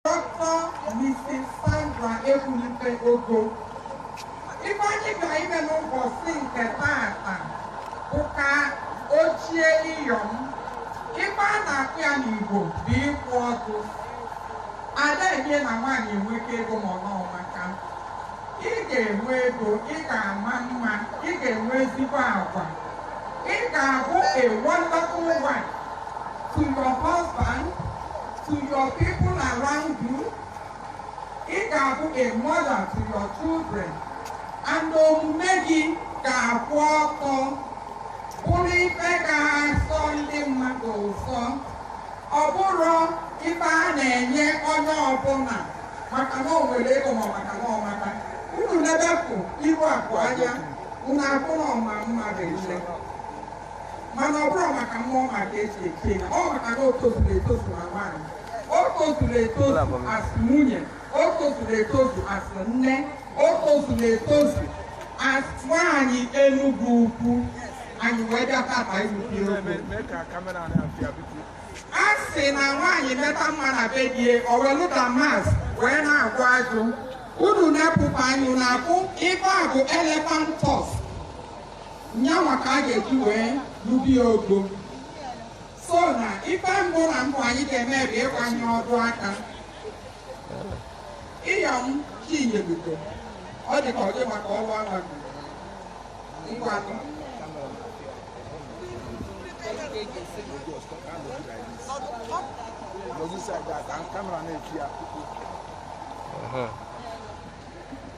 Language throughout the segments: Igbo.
Dọkịta Mrs. Sandra Ekwunife Ogo ife anyị bịara ime n'ụbọchị nke taata bụ ka o chie iyom ife a na-akpọ ya n'Igbo bụ igbu ọdụ a da-enye na nwaanyị enweka ego ma ọ na ọ maka ị ga-enwe ego ị ga-ama mma ị ga-enwe ezigbo agwa ị ga-abụ a wonderful wife to your husband to your people around you, ị ga-abụ a mother to your children, and omume gị ga-akwụ ọtọ bụrụ ife ga-asọ ndị mmadụ ụsọ ọ bụrọ ife a na-enye onye ọbụla maka na o nwere ego ma maka na ọ maka unu nebepụ iru akụ anya unu afụ na ọ ma mma ile mana ọ bụrọ maka mma ọ ma ka e ji echi ya ọ maka na o tozuru etozu na nwaanyị o tozuru etozu as nwunye o tozuru etozu as nne o tozuru etozu as nwaanyị Enugu Ukwu anyị wee bịa tata iwubi okwu a sị na nwaanyị meta mma na be die o welụ damask wee na-agwọ ajụ unu na-epụpa anya na-afụ ife a bụ elephant tusk nyanwa ka a ga-eji wee lụbi ya ugo so na ife mbụ na mbụ anyị ga-eme bụ ịkwanye ọdụ aka Iyom Chinyelugo ọ dị ka ọ dị maka ọrụ agha ngwa Logisa ga-aka kamera na-eti ya.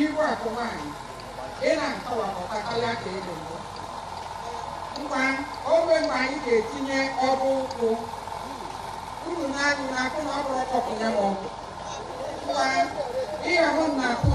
Iru akụ nwanyị, ị na-akọwa ọta karịa ka ị dị mbụ. Ngwa ogbe mgbe anyị ga-etinye ọdụ ụkwụ unu nee anya na-afụ na ọ bụrụ ọkpọkụ ya ma ọgwụ. Ngwa ịya hụ na akụ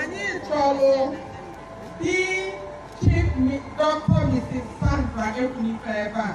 anyị chọrọ di chief dọkịta Mrs. Sandra Ekwunife ebe a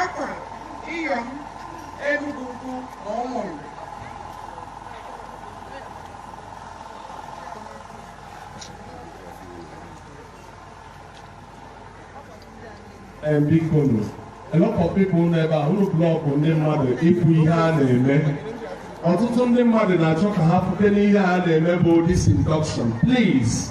Akwa, Iyom, Enugu Ukwu na Ụmụnri. And Bikonu, a lot of people nọ ebe ahụ block ndị mmadụ ịfụ ihe a na-eme. Ọtụtụ ndị mmadụ na-achọ ka ha fụkene ihe a na-eme bụ this induction. Please,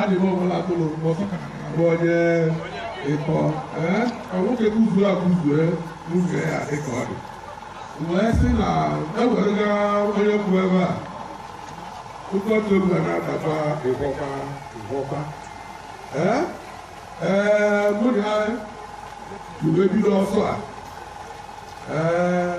Adịghị ọbụla tụrụ mkpọtụ ka abụ onye ịkọ ee ka nwoke guzuru eguzo n'uge ya dịka ọ dị wee sị na ewerega onye kwụ ebe a ụkọtụ egwu a na-adaba ịgwọkwa ịgwọkwa ee ee mụ na ya wee bido ọsọ a ee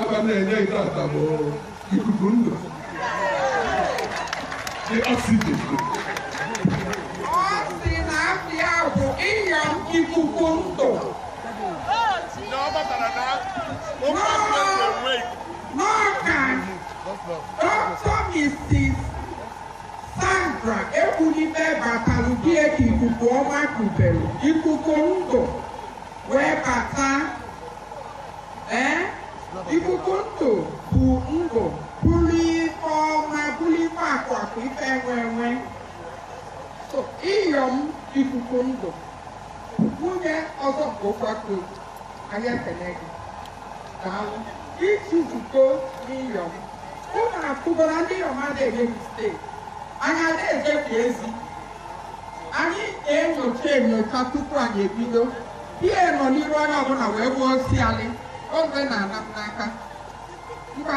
Aba na-enye nke ata bụ ikuku ndụ dị oxygen. Ọ sị na afa ya bụ Iyom ikuku ndụ n'Ọka dọkịta Mrs. Sandra Ekwunife batalụ bịa ka ikuku ọma kubere ikuku ndụ wee bata Ee, ikuku ndụ bụ ndụ bụrụ ife ọma bụrụ ife akụ akụ ife enwe enwe so Iyom ikuku ndụ nwunye ọzọ nke ụkwako anyị ekene gị daalụ i tozugo n'Iyom ụnụ afụgoro ndị Iyom ada-eme mistake anyị ada-ezebi ezi Anyị na-enyocha enyocha tupu anyị ebido. Pie nọ n'iru onye ọbụla wee gbuo osi alị. Oge na-ana m n'aka. Ngwa.